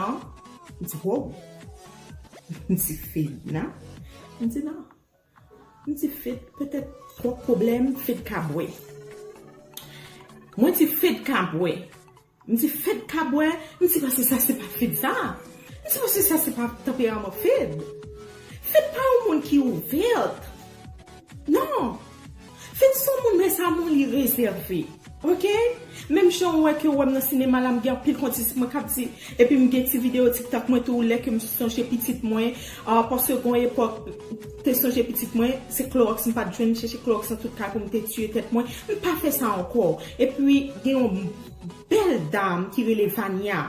An, li di ho, m di fed nan, li di nan, m di fed petèt twòp pwoblèm fed ka bwè. Mwen di fed ka bwè, m di fed ka bwè, m di pase sa se pa fed sa, m di pase sa se pa tanperaman fed. Fed pa yon moun ki ouvert. Non. Finn son moun men sa moun li rezève ok menm jan ou wè ke ou wèm nan sinema la m gen anpil kontis mwen kap di epi m gen ti video tiktok mwen tou lè ke m sonje pitit mwen ahh paske gon epòk m te sonje pitit mwen se klorox m pat jwenn m chèche klorox nan tout kay pou m te tiye tèt mwen m pa fè sa ankò epi gen yon bèl dam ki rele Vania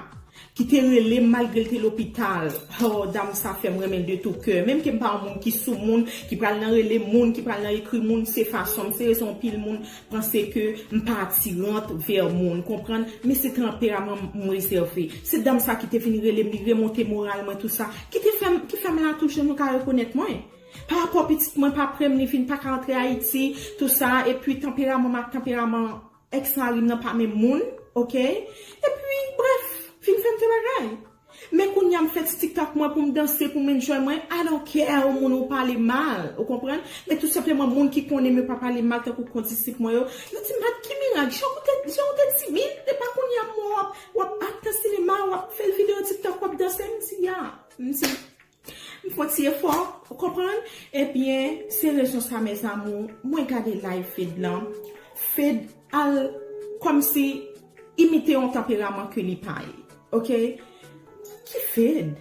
Ki te relem malgre l te lopital oh dam sa fèm renmenl de tou kè menm kem pa yon moun ki sou moun ki pral nan rele moun ki pral nan ekri moun se fasonm se rezon anpil moun panse ke m pa atirant vè moun konprann men se tanperaman m m rezève se dam sa ki te vin relem li remonte moral mwen tou sa ki te fèm ki fèm la toujou nou ka rekonèt mwen pa rapò pitit mwen pa prem li vin paka antre ayiti tou sa epi tanperaman m ak tanperaman Ex marim nan pa menm moun ok epi bref vin fèm fè bagay men kounya m fè ti tiktak mwen poum danse poum enjoy mwen I don't care ou moun ou pale mal ou konprann men tout senpleman moun ki konnenm yo pa pale mal tankou kondisip mwen yo yo dim bat ki mirak jan ou te jan ou te timid epa kounya m wè w wap wap ak nan sinema wap fè video tiktok wap danse m di ya m di M fon ti efò, ou konprann? Ebyen, se rezon sa mes amours, mwen gade live Fed lan, Fed al kòmsi imite yon tanperaman ke li pa ye. Ok? Ki Fed?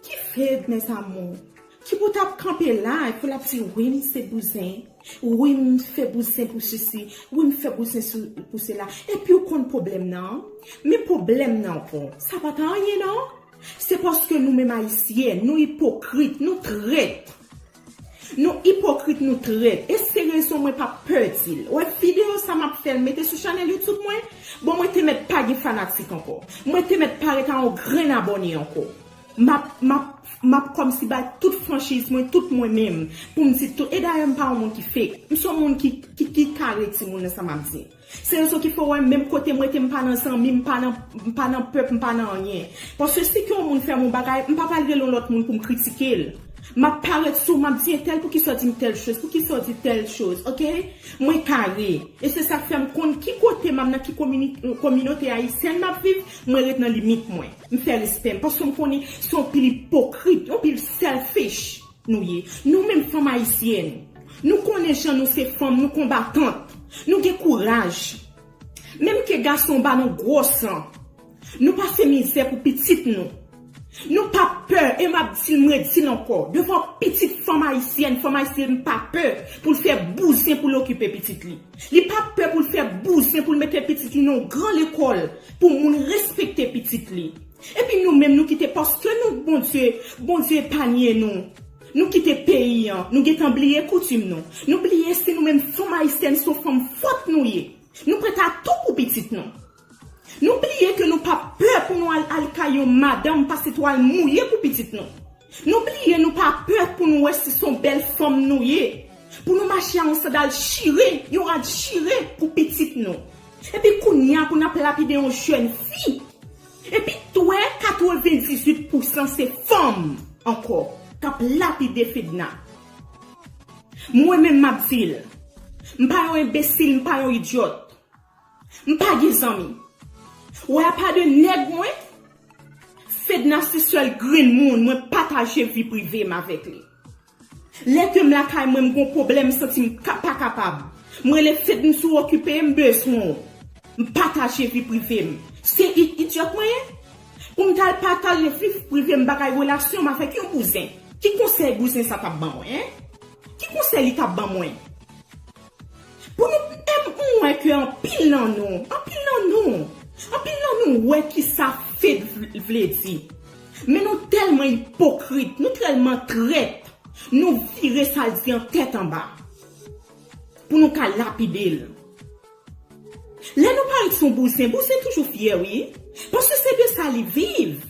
Ki Fed mes amours? Ki pou tap kanpe la e pou lap di wi m se bouzen, wi m fè bouzen pou sesi, wi m fè bouzen pou sela. Epiw konn pwoblèm nan? Men pwoblèm nan w, sa pa t anyen non. Se paske nou menm ayisyen nou ipokrit nou trèt nou ipokrit nou trèt e se rezon mwen pa pè dil wè video sa map fèl mete sou chanèl youtube mwen bon mwen te mèt pa gen fanatik ankò mwen te mèt pa ret a yon grenn abòne ankò map map map kòmsi bay tout franchiz mwen tout mwen menm poum di tout e dayè mpa yon moun ki fake mson moun ki ki kare timoun nan sa map di. Se rezon ki fè w wè m menm kote m rete m pa nan zanmi, m pa nan m pa nan pèp, m pa nan anyen. Paske si ke yon moun fè m yon bagay, m pa pral rele yon lòt moun pou m kritike l. M ap parèt sou w, m ap di entèl poukisa w di m tèl choz, poukisa w di tèl choz, ok? Mwen kare. E se sa k fè m konn ki kote m ap, nan ki komini, kominote ayisyèn m ap viv, mwen ret nan limit mwen. M fè respè m. Paske m konnen se yon pil ipokrit, yon pil selfish. Nou ye. Nou menm fanm ayisyèn. Nou konnen jan nou se fanm nou konbatant. Nou gen kouraj. Menm ke gason ba nou gwo san. Nou pase mizè pou pitit nou. Nou pa pè e map dil m redil ankò devan pitit fanm ayisyèn fanm ayisyèn pa pè poul fè bouzen poul okipe pitit li. Li pa pè poul fè bouzen poul mete pitit li nan yon gran lekòl pou moun respekte pitit li. Epi nou menm nou kite paske nou k Bondye, Bondye epanye nou. Nou kite peyi an, nou gentan bliye koutim nou. Nou bliye si nou menm fanm ayisyèn son fanm fòt nou ye. Nou prèt a tou pou pitit nou. Nou bliye ke nou pa pè pou nou al al kay yon madanm pase twal mouye pou pitit nou. Nou bliye nou pa pè pou nou wè si son bèl fanm nou ye. Pou nou mache a yon sandal chire, yon rad chire pou pitit nou. Epi kounya pou nap lapide yon jèn fi. Epi twè 98 pousan se fanm ankò kap lapide Fedna. Mwen menm map dil. Mpa yon enbesil mpa yon idiot. M pa gen zanmi. Wè apa de nèg mwen. Fedna se sèl grenn moun mwen pataje vi prive m avèk li. Lè ke m lakay mwen m gon pwoblèm m santi m pa kapab. M rele Fedn si w okipe m bezwen w. M pataje vi prive m. Se yn idyòt mwen ye? Pou m t al pataje vi prive m bagay relasyon m avèk yon bouzen. Ki konsèy bouzen sa t ap ban mwen? Ki konsèy li t ap ban mwen? Pou nou M wè ke anpil nan nou, anpil nan nou, anpil nan nou wè kisa fake vle di. Men nou tèlman ipokrit, nou trèlman trèt, nou vire sa l di an tèt anba. Pou nou ka lapide l. Lè nou parèt son bouzen, bouzen toujou fyè wi. Paske se de sa li viv.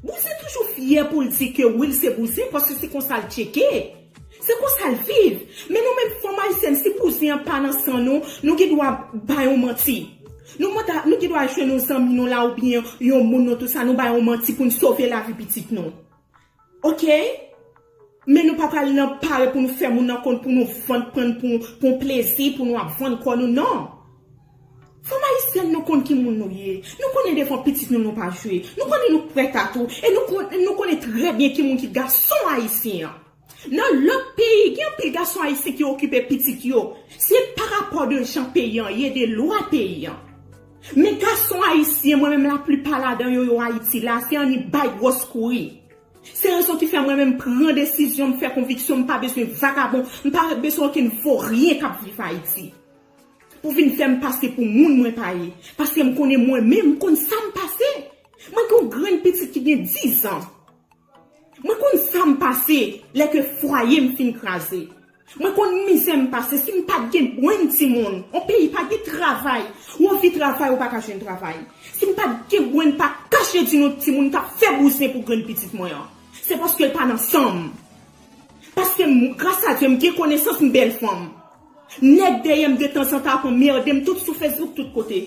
Bouzen toujou fyè pou l di ke Will se bouzen paske se konsa l tcheke. Se konsa l viv. Men nou menm fanm ayisyèn si bouzen an pa nan san nou, nou gen dwa bay yon manti. Nou mwen ta, nou gen dwa jwenn yon zanmi nou la oubyen yon moun nou tout sa nou bay yon manti pou n sove lavi pitit nou. Ok? Men nou pa pral nan pare pou nou fè moun nan konn pou nou vann prann pou yon plezi pou nou ap vann kò nou nan. Fanm ayisyèn nou konn ki moun nou ye. Nou konnen devan pitit nou nou pa jwe. Nou konnen nou prèt a tou e nou konnen trè byen ki moun ki gason ayisyen an. Nan lòt peyi gen anpil gason ayisyen ki okipe pitit yo. Se pa rapò de jan peyi an ye, de lwa peyi an. Men gason ayisyen mwen menm laplipa ladan yo yo Ayiti la se annik bay gwòs kouri. Se rezon ki fè mwen menm pran desizyon m fè konviksyon m pa bezwen vagabon, m pa bezwen okenn voryen k ap viv Ayiti pou vin fè m pase pou moun mwen pa ye. Paske m konnen mwen menm, m konn sa m pase. Mwen gen yon grenn pitit ki gen dizan. Mwen konn sa m pase lè ke fwaye m fin kraze. Mwen konn mizè m pase si m pat gen bwenn timoun on peyi pa gen travay ou anvi travay ou paka jwenn travay si m pat gen bwenn pa kache di nou timoun kap fè bouzen pou grenn pitit mwen an se paske l pa nan san m paske m gras a Dye m gen konesans m bèl fanm nèg dèyè m de tanzantan ap anmerde m tout sou fesbouk tout kote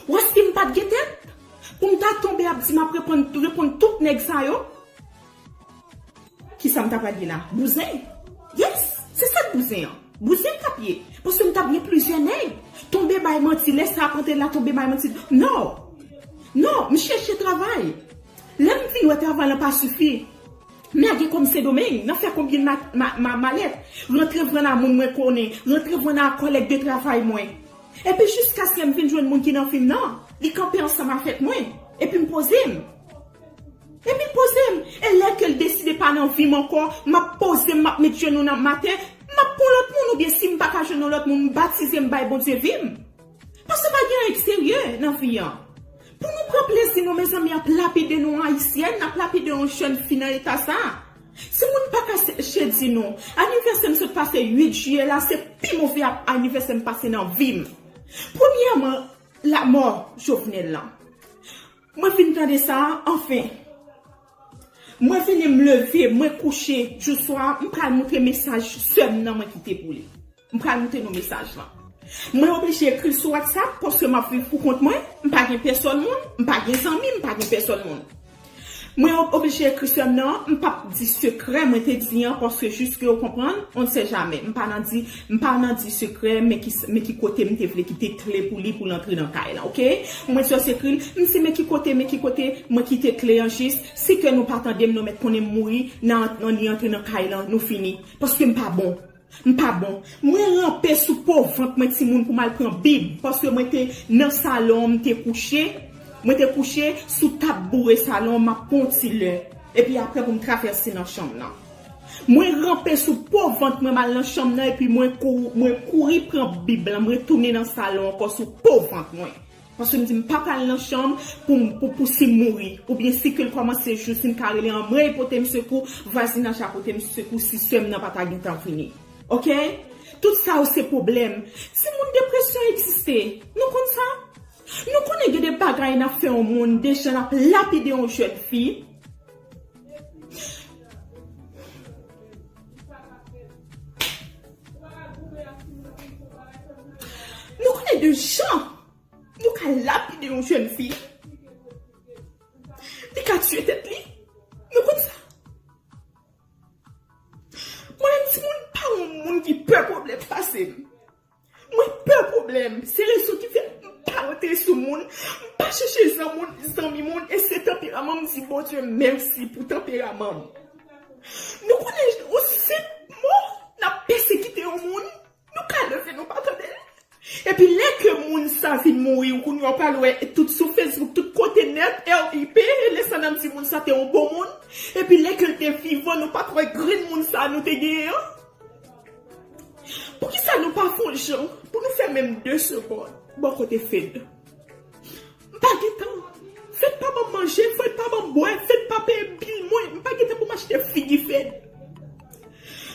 wè si m pat gen tèt pou m ta tonbe ap di map reponn tout nèg sa yo. Kisa m ta pral ye la? Bouzen? Yes! Se sa k bouzen an. Bouzen m t ap ye. Paske m t ap gen plizyè nèg. Tonbe bay manti. Lè sa ap antre la, tonbe bay manti. Non! Non! M chèche travay. Lè m vin wè travay lan pa sifi, m lage kò m Sendomeng, nan fè konbyen ma malèt, rantre vann a moun mwen konnen, rantre vann a kòlèg de travay mwen. Epi jiskaske m vin jwenn moun ki nan fim nan, li kanpe ansanm avèk mwen. Epi m poze m. Epi pozem, e lè kel deside pa nan vim ankò, map pozem map met jenou nan ma tè, map pran lòt moun oubyen sim paka jwenn yon lòt moun m batize m bay Bondye vim. Paske pa gen anyen ki serye nan vi an. Pou nou pran plezi nou mezanmi yap lapide nou ayisyèn, nap lapide yon jèn fi nan eta sa. Si moun paka seche di nou, anivèsèm sot pase 8 jiyè la se pi move anivèsè m pase nan vim. Premyèman lamò Jovenel lan. Mwen fin tande sa a anfen. Mwen vini m leve, mwen kouche jou swa a, m pral moute mesaj sè m nan mwen kite pou li. M pral moute nou mesaj lan. Mwen oblije ekri l sou WhatsApp paske m ap viv pou kont mwen, m pa gen pèsòn moun, m pa gen zanmi, m pa gen pèsòn moun. Mwen oblije ekri sè m nan, m p ap di sekrè mwen te di an paske jiske ou konprann, on ne sait jamais. M pa nan di M pa nan di sekrè men ki men ki kote m te vle kite kle pou li pou l antre nan kay lan ok mwen t just ekri l m se men ki kote men ki kote mwen kite kle an jis si kè nou pa tande m nou mèt konnen m mouri nan nan li antre nan kay lan nou fini paske m pa bon m pa bon mwen ranpe sou po vant mwen timoun pou m al pran bib paske mwen te nan salon an m te kouche mwen te kouche sou tab boure salon an m ap pran yon ti lè epi aprè pou m travèse nan chanm lan. Mwen ranpe sou po vant mwen mal nan chanm nan epi mwen mwen kouri pran bib lan mwen retounin nan salon ankò sou po vant mwen paske m di m pa pral nan chanm pou m pou pou si m mouri oubyen si ke l kòmanse jou si m ka rele anmweyy pote m sekou vwazinaj la pote m sekou si sè m nan pa ta gentan vini ok tout sa yo se pwoblèm timoun depresyon egziste nou konn sa nou konnen gen de bagay n ap fè yon moun de jan n ap lapide yon jèn fi. Nou konnen de jan nou ka lapide yon jèn fi, li ka tiye tèt li, nou konn sa. Mwen menm timoun pa yon moun ki pè pwoblèm pase m. Mwen pè pwoblèm, se rezon ki fè m pa rantre sou moun, m pa chèche zanmoun, zanmi moun e se tanperaman m di Bondye mèsi pou tanperaman m. Nou konnen yon senp mo n ap pèsekite yon moun, nou ka leve nou pa tande l. Epi lè ke moun sa vin mouri ou konnen w pral wè tout sou Facebook, tout kote nèt, RIP, e lè sa n ap di moun sa te yon bon moun. Epi lè ke l te vivan nou pa t wè grenn moun sa nou te genyen an. Poukisa nou pa fon jan pou nou fè menm 2 segond bò kote Fed. M pa gen tan. Fed pa banm manje, Fed pa banm bwè, Fed pa peye bil mwen, m pa gen tan pou m achte figi Fed.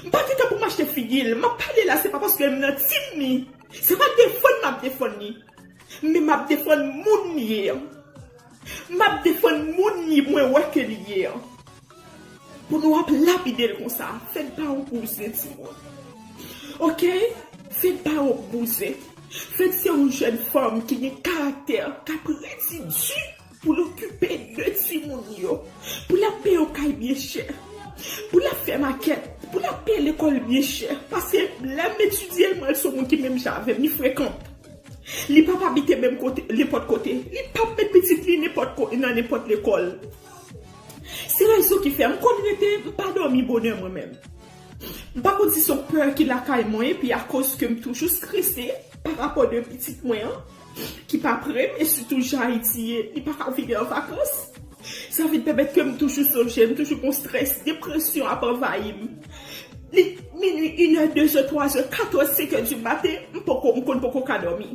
M pa gen tan pou m achte figi l. M ap pale la se pa paske m nan team li, se pa defann m ap defann li. Men m ap defann moun li ye an. M ap defann moun li mwen wè ke li ye an. Pou nou ap lapidel konsa. Fed pa yon bouzen ti moun. Ok Fed pa yon bouzen. Fed se yon jèn fanm ki gen karaktè kap redi di pou l okipe de ti moun yo. Pou l ap peye yon kay byen chè. Pou l ap fè makèt. Pou l ap peye lekòl byen chè. Paske lè m etidye l m wè l se yon moun ki menm jan avè m. Li frekan. Li pap abite menm kote nenpòt kote. Li pap met pitit li nenpòt kote nan nenpòt lekòl. Se rezon ki fè m konn rete, m pa dòmi bonè mwen menm. M pa konn si son pè ki lakay mwen epi akoz ke m toujou strese pa rapò de pitit mwen an ki pa pre m e sitou jan Ayiti ye li pa ka vini an vakans. Sa vin pèmèt ke m toujou sonje l, m toujou gon strès, depresyon ap anvayi m. Li minui, inè, dezè, twazè, katè, senkè di maten, m poko, m konn poko ka dòmi.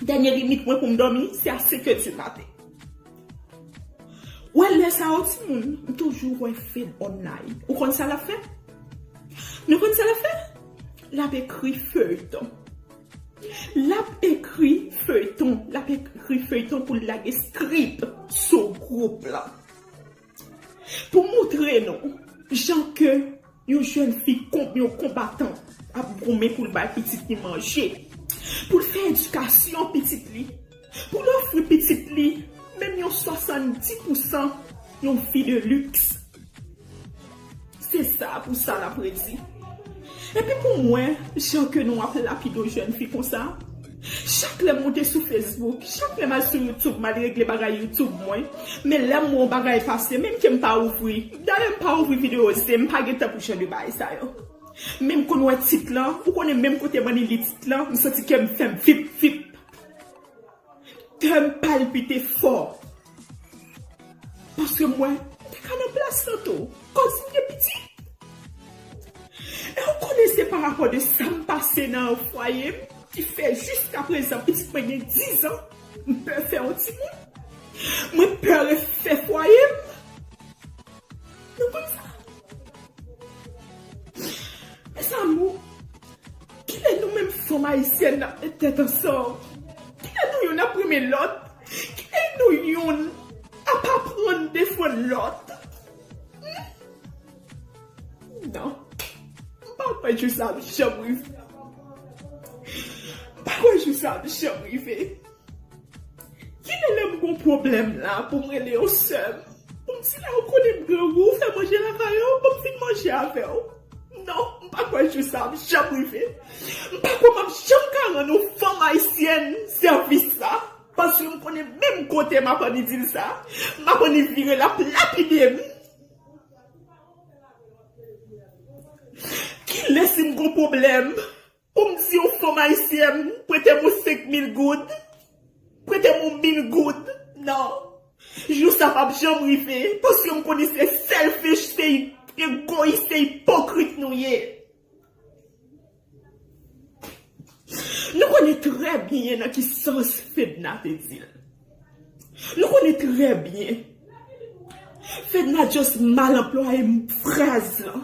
Dènye limit mwen pou m dòmi se a senkè di maten. Wè lè sa yo ti moun m toujou wè Fed online ou konn sa lap fè nou konn sa lap fè lap ekri feyton lap ekri feyton lap ekri feyton poul lage script sou group lan Pou moutre nou jan ke yon jèn fi konb yon konbatan ap goumen pou l bay pitit li manje, pou l fè edikasyon pitit li, pou l ofri pitit li menm yon 70 pousan yon vi de liks. Se sa pou sa lap redi. Epi pou mwen jan ke nou ap lapido jèn fi konsa chak lèm moute sou Facebook chak lèm al sou YouTube mal regle bagay YouTube mwen men lèm wè yon bagay pase menm kem pa ouvri dayè m pa ouvri video se m pa gen tan pou jan de baay sa yo menm konn wè tit lan ou konnen menm kote m an li li tit lan m santi kèm fèm fip fip. Kè m palpite fò. Paske mwen te ka nan plas lan tou. Koz m te piti. E ou konnen se pa rapò de sa m pase nan fwaye m ki fè jiska prezan pitit mwen gen 10 an m pè fè yon timoun. Mwen pè refè fwaye m. Nou konn sa. Mes amour. Kilè nou menm fanm ayisyèn nap met tèt ansanm? Kilè nou yonn ap renmen lòt? Kilè nou yonn ap aprann defann lòt? Humm nan m pa kwè jou sa ap janm rive m pa kwè jou sa ap janm rive. Kilè lèm gon pwoblèm la poum rele yo sèm poum di lèw konnen grangou fè manje lakay ou poum vin manje avèw non m pa kwè jou sa ap janm rive m pa kwè map janm ka rann yon fanm ayisyèn sèvis sa paske m konnen menm kote map annik dil sa map annik vire lap lapidem kilè sim gon pwoblèm. Pou m di yon fanm ayisyèn prete m yon 5 mil goud, prete m yon mil goud, nan. Jou sa pap janm rive, paske m konnen se selfish, se egoyis, se ipokrit nou ye. Nou konnen trè byen nan ki sans Fedna te di l. Nou konnen trè byen. Fedna just mal anplwaye fraz lan.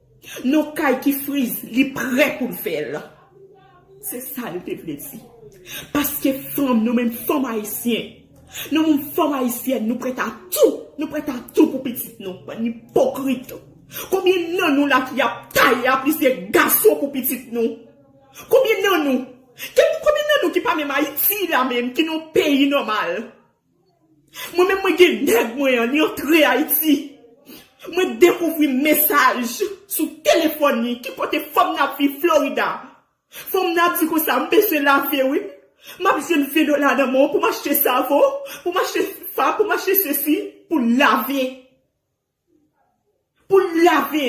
Non kay ki frize li prè poul fèl. Se sa li te vle di. Paske fanm nou menm fanm ayisyen nou menm fanm ayisyèn nou prèt a tou nou prèt a tou pou pitit nou bann ipokrit konbyen nan nou la ki ap taye a plizyè gason pou pitit nou konbyen nan nou konbyen nan nou ki pa menm ayiti la menm ki nan yon peyi nòmal. Mwen menm mwen gen nèg mwen an li antre ayiti mwen dekouvri mesaj sou telefòn li ki pote fanm nan ap viv Florida fanm nan ap di konsa m bezwen lave wi map jwenn 20 dola nan men w pou m achte savon pou m achte fab pou m achte sesi pou lave. Pou l lave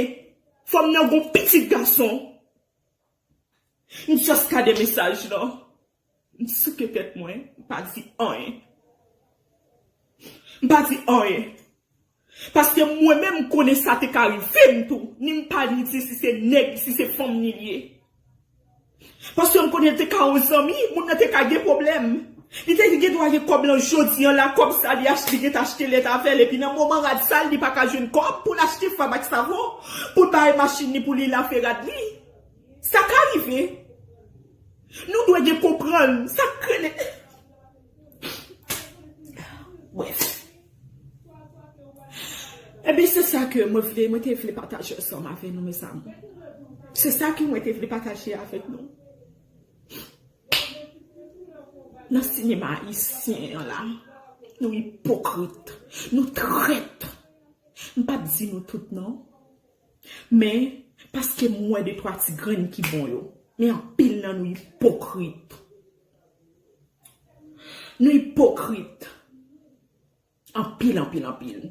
fò m nan gon pitit gason. M just gade mesaj lan. M souke tèt mwen. M pa di anyen. M pa di anyen. Paske mwen menm m konnen sa te ka rive m tou. Ni m pa li di si se nèg si se fanm li ye. Paske m konnen l te ka yon zanmi, moun nan te ka gen pwoblèm. Li te gen dwa gen kòb lan jodi an la, kòb sa li achte li gentan achte lèt avè l epi nan moman rad sa l li pa ka jwenn kòb pou l achte fab ak savon pou l bare machin li pou li lave rad li. Sa ka rive. Nou dwe gen konprann. Sa k rele. Bref. E bi se sa ke mwen vle, mwen te vle pataje ansanm avè nou mes amour. Se sa ke mwen te vle pataje avè nou. Nan sinema ayisyen an la, nou ipokrit, nou trèt. M pa p di nou tout non. Men, paske m wè de twa ti grenn ki bon yo. Men anpil nan nou ipokrit. Nou ipokrit anpil anpil anpil.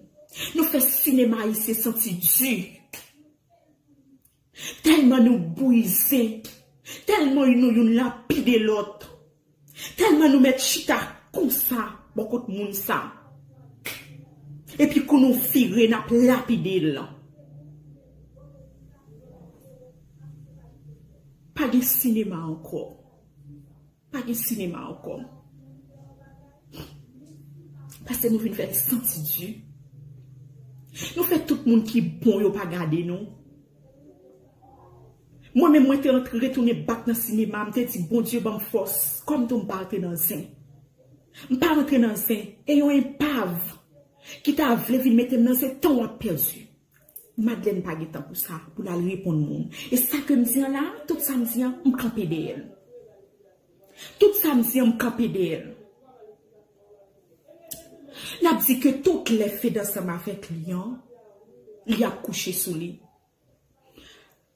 Nou fè sinema ayisyen santi di. Tèlman nou brize. Tèlman nou youn lapide lòt. Tèlman nou mèt chita konsa bò kot moun sa. Epi kou nou vire n ap lapide l. Pa gen sinema ankò. Pa gen sinema ankò. Paske nou vin fè santi di. Nou fè tout moun ki bon yo pa gade nou. Mwen menm mwen te antre retounen bak nan sinema m te di Bondye banm fòs kòm tou m pa antre nan zen. M pa antre nan zen e yon enpav ki ta vle vin mete m nan zen tan w ap pèdi. Madlèn pa gen tan pou sa, pou l al reponn moun. E sa ke m di an la a, tout sa m di an, m kanpe dèyè l. Tout sa m di an, m kanpe dèyè l. L ap di ke tout lè Fed ansanm avèk li an, li ap kouche sou li.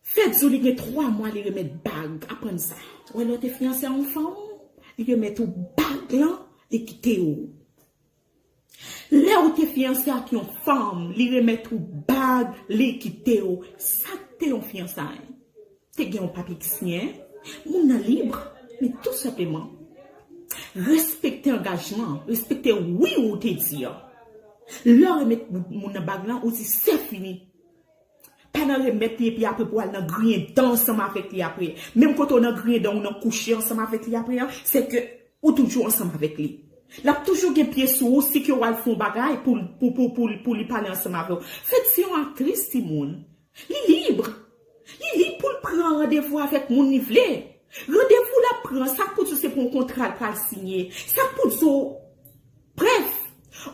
Fed di w li gen 3 mwa li remèt bag, aprann sa. Ou wè lè w te fiyanse a yon fanm, li remèt ou bag lan, li kite w. Lèw te fiyanse ak yon fanm li remèt ou bag li kitew sak te yon fiyansay? Te gen yon papye ki siyen? Moun nan libre men tou senpleman respekte angajman, respekte wi ou te di an. Lèw remèt moun nan bag lan ou di sefini Pa nan remèt li epi apre pou al nan griyen dan ansanm avèk li apre. Menm kote ou nan griyen dan ou nan kouche ansanm avèk li apre an, se ke ou toujou ansanm avèk li. L ap toujou gen pye sou ou si ke ou al fè yon bagay pou l pou pou pou l pou li pale ansanm avè w. Fed se yon aktris timoun. Li lib. Li lib pou l pran randevou avèk moun li vle. Randevou l ap pran an, sa k pou di w se pou yon kontra l pral siyen? Sa k pou di w Brèf,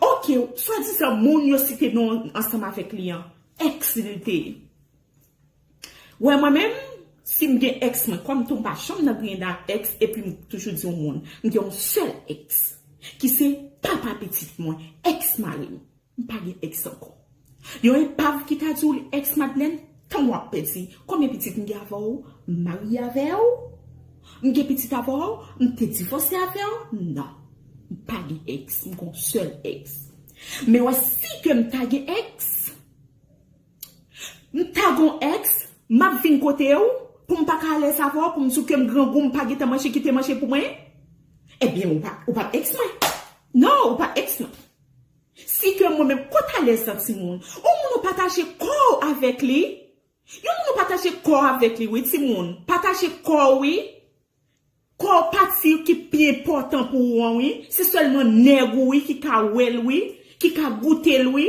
ok, swadizan moun yo site non ansanm avèk li an, Ex li te ye. Wè mwen menm, si m gen ex mwen, kòm tou m pa janm nan griyen ak ex epi m toujou di yon moun, m gen yon sèl ex ki se papa pitit mwen, ex mari m. M pa gen ex ankò. Yon epav ki ta di w li ex Madlèn, tan w ap pèdi. Konbyen pitit m gen avè w? M marye avè w? M gen pitit avè w? M te divòse avè w? Non. M pa gen ex, m gon sèl ex. Men wè si ke m ta gen ex, m ta gon ex, m ap vin kote w pou m pa ka alèz avè w pou m di w ke m grangou m pa gentan manje kite manje pou mwen, ebyen ou pa ou pa p ex mwen. Non, ou pa ex mwen. Si ke mwen menm kot alèz lan timoun. Yon moun ou pataje kò w avèk li, yon moun ou pataje kò w avèk li wi timoun, pataje kò w wi. Kò pati ki pi enpòtan pou ou an wi, se sèlman nèg ou wi ki ka wèl wi, ki ka goutel wi.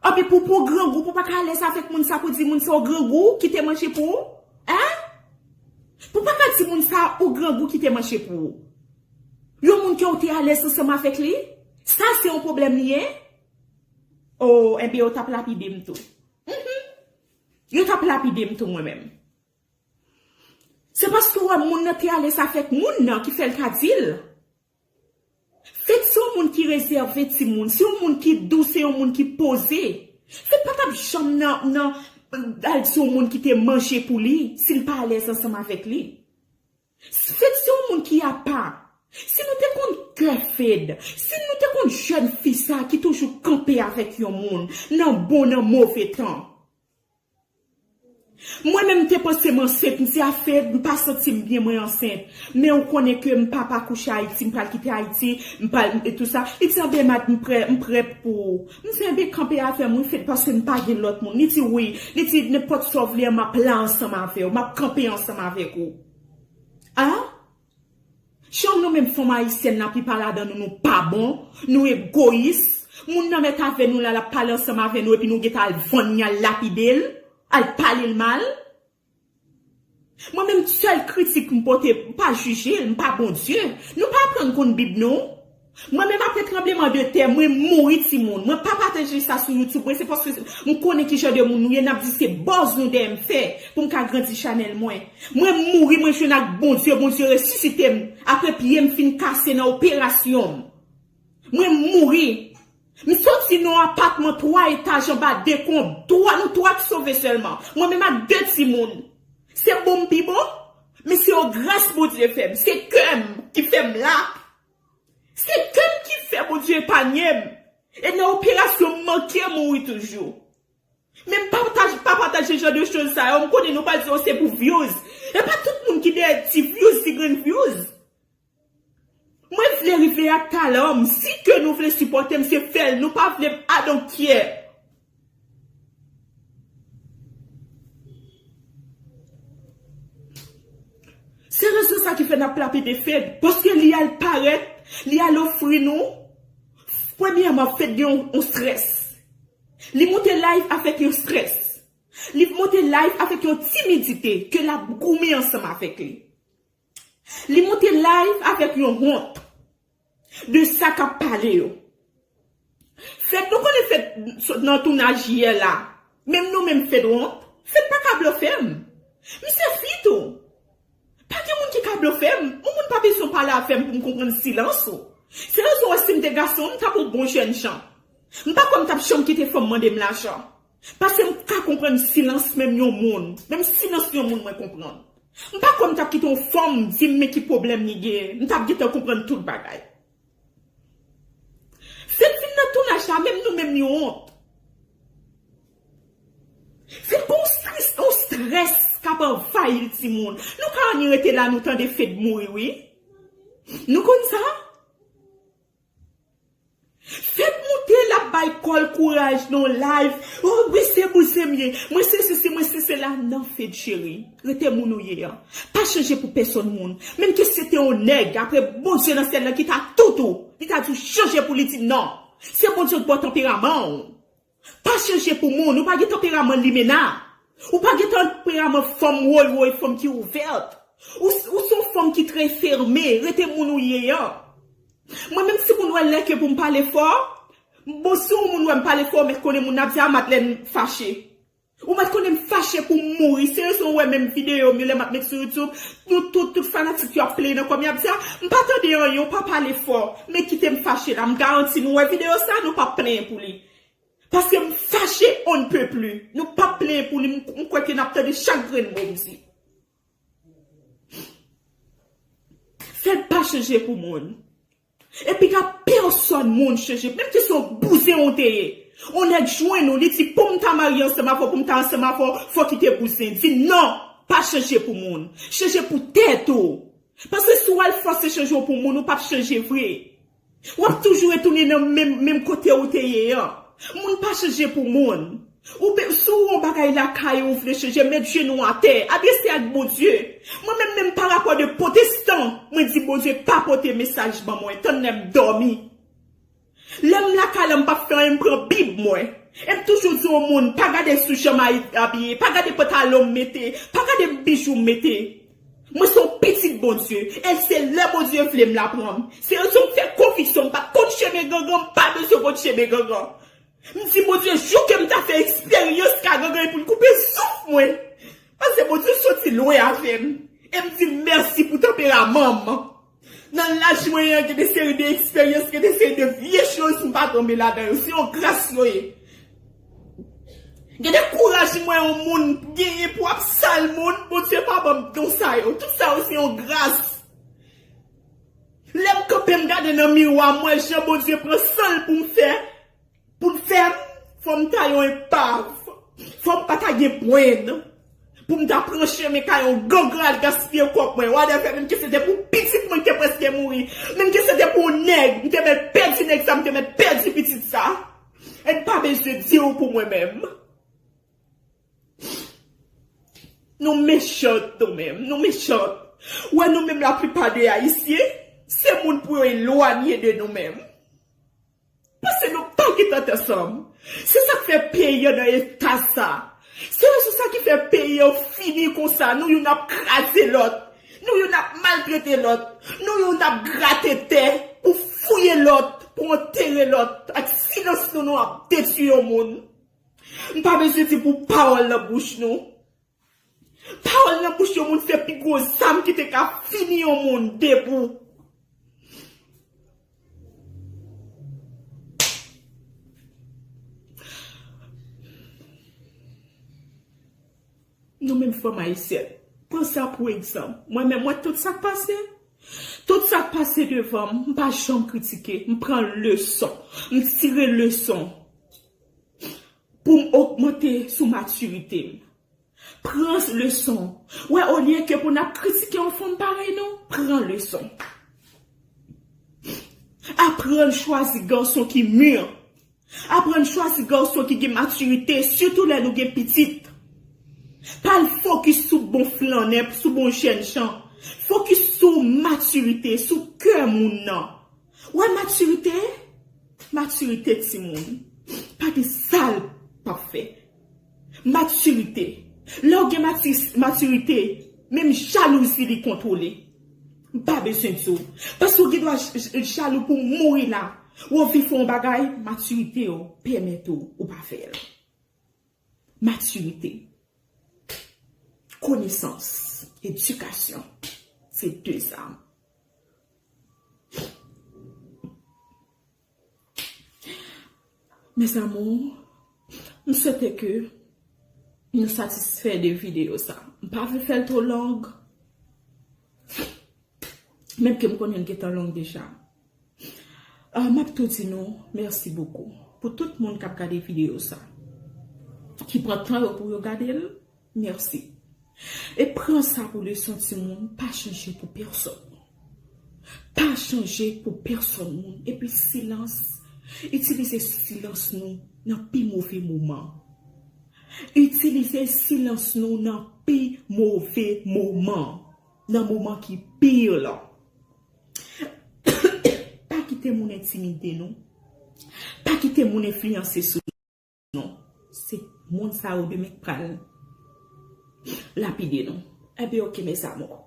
Anpi pou pou grangou pou paka alèz avèk moun sa pou di moun sa ou grangou kite manje pou ou? Hein? Pou paka di moun sa ou grangou kite manje pou ou? Yon moun ke ou te alèz ansanm avèk li? Sa se yon pwoblèm li ye? Oh enben yo tap lapidem tou. Humm yo tap lapidem tou mwen menm. Se paske wè moun nan te alèz avèk moun nan ki fè l ka di l. Fed se yon moun ki rezève timoun, se yon moun ki dous, se yon moun ki poze. Fed pa t ap janm nan al di yon moun ki te manje pou li si l pa alèz ansanm avèk li. Fed se yon moun ki apa. Si nou te konn kè Fed, si nou te konn jèn fi sa ki toujou kanpe avèk yon moun nan bon nan move tan. Mwen menm mte panse m ansent mse a fed m pa santim byen mwen ansent men ou konnen ke m pap akouche ayiti m pral kite ayiti m pa e tou sa li di anben mad m prè m prè pou ou m di anben kanpe avèm wi fed paske m pa gen lòt moun li di wi li di nenpòt sa w vle an map la ansanm avèw map kanpe ansanm avèk ou a. Chom nou menm fanm ayisyèn la plipa ladan nou nou pa bon, nou egoyis, moun nan mèt avè nou la lap pale ansanm avè nou epi nou gentan al vann li al lapidel, al palel mal. Mwen menm sèl kritik m pote m pa jijel m pa Bondye, nou pa aprann konn bib non. Mwen menm apre tranbleman de tè mwen mouri timoun mwen pa pataje sa sou youtube mwen se paske m konnen kijan de moun nou ye nap di se buzz nou dèyè m fè pou m ka grandi chanèl mwen mwen mouri mwen jwenn ak bondye bondye resisite m apre pye m fin kase nan operasyon m mwen mouri m soti nan yon apatman 3 etaj anba dekonb 3 nou 3 ki sove sèlman mwen menm ak 2 timoun se bon m pi bon men se yon gras bondye fè m se kè m ki fè m la. Se kem ki fè Bondye epanyem e nan operasyon m manke mouri toujou. Men m pa pataje jan de choz sa yo, m konnen nou pral di oh se pou vyouz. E pa tout moun ki dèyè ti vyouz, ti grenn vyouz. Mwen vle rive ak talan m, si ke nou vle sipòte m se fèl, nou pa vle m I don't care. Se rezon sa ki fè nap lapide Fed, paske li al parèt, li al ofri nou, premyèman Fed gen yon strès, li moute live avèk yon strès, li moute live avèk yon timidite ke lap goumen ansanm avèk li. Li moute live avek yon hont de sa kap pale yo. Fed nou konnen fed sot nan tounaj yè la menm nou menm fed wont fed paka blofem misye fi tou pa gen moun ki ka blofem yon moun pa bezwen pale avem poum konprann silans ou se rezon wè sim te gason m tap yon bon jènjan m pa kwè m tap janm kite fanm mandem lajan. Paske m ka konprann silans menm yon moun. Menm silans yon moun mwen konprann. M pa kwè m t ap kite yon fanm di m men ki pwoblèm li gen. M t ap gentan konprann tout bagay. Fed vin nan tounaj la menm nou menm nou wont. Fed gon yon strès k ap anvayi l timoun. Nou ka annik rete la nou tande Fed mouri wi. Nou konn sa? Fed moute lap bay kòl kouraj nan yon live oh wi se bouzen m ye mwen se sesi mwen se sela nan fed cheri rete moun ou ye an pa chanje pou pèsòn moun menm ke se te yon nèg apre Bondye nan syèl nan ki ta tout ou li ta di w chanje pou li di nan se Bondye k baw tanperaman w. Pa chanje pou moun, ou pa gen tanperaman limena. Ou pa gen tanperaman fanm woy woy, fanm ki ouvèt. Ou se yon fanm ki trè fème, rete moun ou ye an. Mwen menm si moun wè lè ke pou m pale fò, bon si yon moun wè m pale fò men konnen moun nan ap di a Madlèn fache. Ou pat konnen m fache pou m mouri seriously ou wè menm video m yo lè map met sou youtube nou tout tout fanatik yo ap pleye nan kòm yap di a m pa tande anyen ou pa pale fò men kite m fache la m garanti nou wè video sa nou pap plenyen pou li paske m fache on ne peut plus nou pap plenyen pou li m kwè ke nap tande chak grenn mo m di. Fed pa chanje pou moun. E pi ka pèsòn moun chanje. Menm si se yon bouzen ou te ye. Yon nèg jwenn ou li di pou m ta marye ansanm avè w, pou m ta ansanm avè w, fòk ki te bouzen. Di non! Pa chanje pou moun. Chanje pou tèt ou. Paske si w al fòse chanje w pou moun, ou p ap chanje vre. Wap toujou retounen nan menm menm kote ou te ye an. Moun pa chanje pou moun. Ou be si ou yon bagay lakay ou ou vle chanje met jenou atè, adrese ak Bondye. Mwen menm menm pa rapò de potestan mwen di Bondye pa pote mesaj ban mwen tann lèm dòmi. Lèm lakay la m pap fè anyen m pran bib mwen. Em toujou di yon moun pa gade sou jan m abiye, pa gade pantalon m mete, pa gade bijoum mete. Mwen se yon pitit Bondye e se lè Bondye vle m la pran m. Se yon ti m fè konvisyon m pa konn chemen gangan m pa bezwen konn chemen gangan. M di Bondye jou ke m ta fè eksperyans ka gangan epi l koupe souf mwen. Pase Bondye soti lwen avè m e m di l mèsi pou tanperaman m. Nan laj mwen an gen de seri de eksperyans, gen de seri de vye choz m pa tonbe ladan yo. Se yon gras yo ye. Gen de kouraj m wè yon moun genyen pou ap sal moun, Bondye pa ban m don sa yo. Tout sa yo se yon gras. Lè m kanpe m gade nan miwa m wè jan Bondye pran san l pou m fè. Pou m fè l, fò m ta yon enpav, fò m pa ta gen pwen, pou m ta pran chemen kay yon gangan al gaspiye kòb mwen, wadèvè, menm ke se te pou pitit mwen ki te prèske mouri, menm ke se te pou yon nèg, m te mèt pèdi nèg sa, m te mèt pèdi pitit sa. E m pa bezwen di ou pou mwen menm. Nou mechant nou menm, nou mechant. Ou wè nou menm laplipa de Ayisyen, se moun pou yo elwanye de nou menm. Pase nou pa gen tèt ansanm. Se sak fè peyi an nan eta sa. Se rezon sa ki fè peyi an fini konsa. Nou youn ap kraze lòt. Nou youn ap maltrete lòt. Nou youn ap grate tè pou fouye lòt, pou antere lòt. Ak silans nou nou ap detwi yon moun. M pa bezwen di pou pawòl nan bouch nou. Pawòl nan bouch yon moun se pi gwo zam ki te ka fini yon moun debou. Nou menm fanm ayisyèn, pran sa pou egzanp. Mwen menm, mwen tout sa k pase. Tout sa k pase devan m, m pa janm kritike. M pran leson. M tire leson. Pou m ogmante sou matirite m. Pran leson. Wè olye ke pou n ap kritike yon fanm parèy nou, pran leson. Aprann chwazi gason ki mur. Aprann chwazi gason ki gen matirite, sitou lè nou gen pitit. Pa al fokis sou bon flannè, sou bon jènjan. Fokis sou matirite, sou kè moun nan. Wè matirite, matirite timoun. Pa gen sa l pap fè. Matirite. Lè w gen matirite, menm jalouzi li kontwole. M pa bezwen di w. Paske w gen dwa jalou pou w mouri la. Wè w vle fè yon bagay, matirite w pèmèt ou ou pa fè l. Matirite, konesans, edikasyon se de zam. Mes amour, m swete ke nou satisfè de video sa. M pa vle fè l two long. Menm ke m konnen l gentan long deja. M ap tou di nou mèsi bokou pou tout moun k ap gade videyo sa. Ki pran tan yo pou yo gade l, mèsi. E pran sa pou leson timoun, pa chanje pou pèsòn. Pa chanje pou pèsòn moun. Epi silans, itilize silans nou nan pi move moman. Itilize silans nou nan pi move moman. Nan moman ki pi yo lan. Pa kite moun entimide nou. Pa kite moun enfliyanse sou nou. Se moun sa yo demen k pral lapide nou. Enben ok mes amours.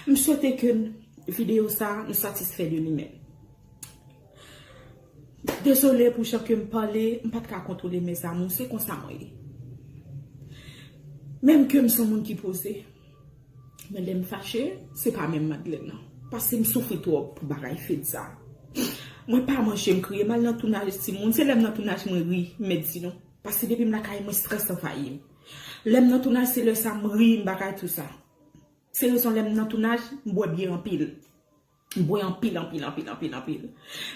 M swete ke video sa nou satisfè de li men. Desole pou jan ke m pale. M pat ka kontwole mes amours. Se konsa mwen ye. Menm ke m son moun ki poze. Men lèm fache se pa menm madlèn nan. Paskem soufri twòp pou bagay fed sa. Mwen pa manje m kriye mal nan tounaj timoun se lèm nan tounaj mwen ri m mèt di nou. Paske depim lakay mwen strès anvayim. Lèm nan tounaj se lè sa m ri m pa ka di w sa. Se rezon lèm nan tounaj m bwè byè anpil. M bwè anpil anpil anpil anpil anpil.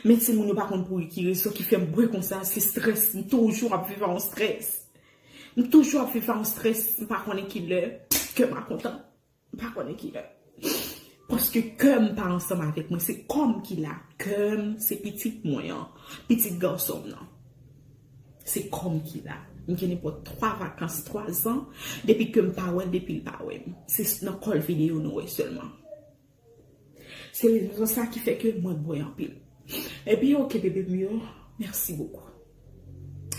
Men timoun yo pa konn pou ki rezon ki fè m bwè konsa, se strès. M toujou ap viv a yon strès. M toujou ap viv a yon strès. M pa konnen ki lè kè m a kontan. M pa konnen ki lè. Paske kè m pa ansanm avèk mwen. Se kò m ki la. Kè m se pitit mwen an. Pitit gason m nan. Se kò m ki la. M gen nenpòt 3 vakans, 3 zan. Depi kè m pa wè l, depi l pa wè m. Se nan kòl videyo nou wè sèlman. Se rezon sa ki fè ke mwen bwè anpil. Ebyen ok bebe m yo, mèsi bokou.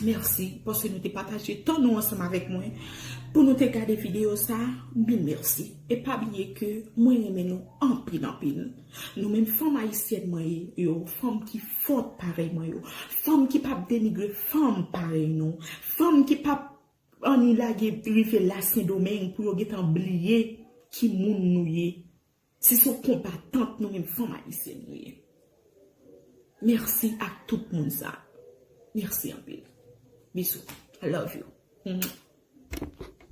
Mèsi paske nou te pataje tan nou ansanm avèk mwen pou nou te gade videyo sa, mil mèsi. E pa bliye ke mwen renmen nou anpil anpil. Nou menm fanm ayisyèn mwen yo, fanm ki fòt parèy mwen yo, fanm ki pap denigre fanm parèy nou, fanm ki pap Annie lage rive la sendomeng pou yo gentan bliye ki moun nou ye si son konbatant nou menm fanm ayisyèn nou ye merci ak tout moun sa merci anpil bisou I love you.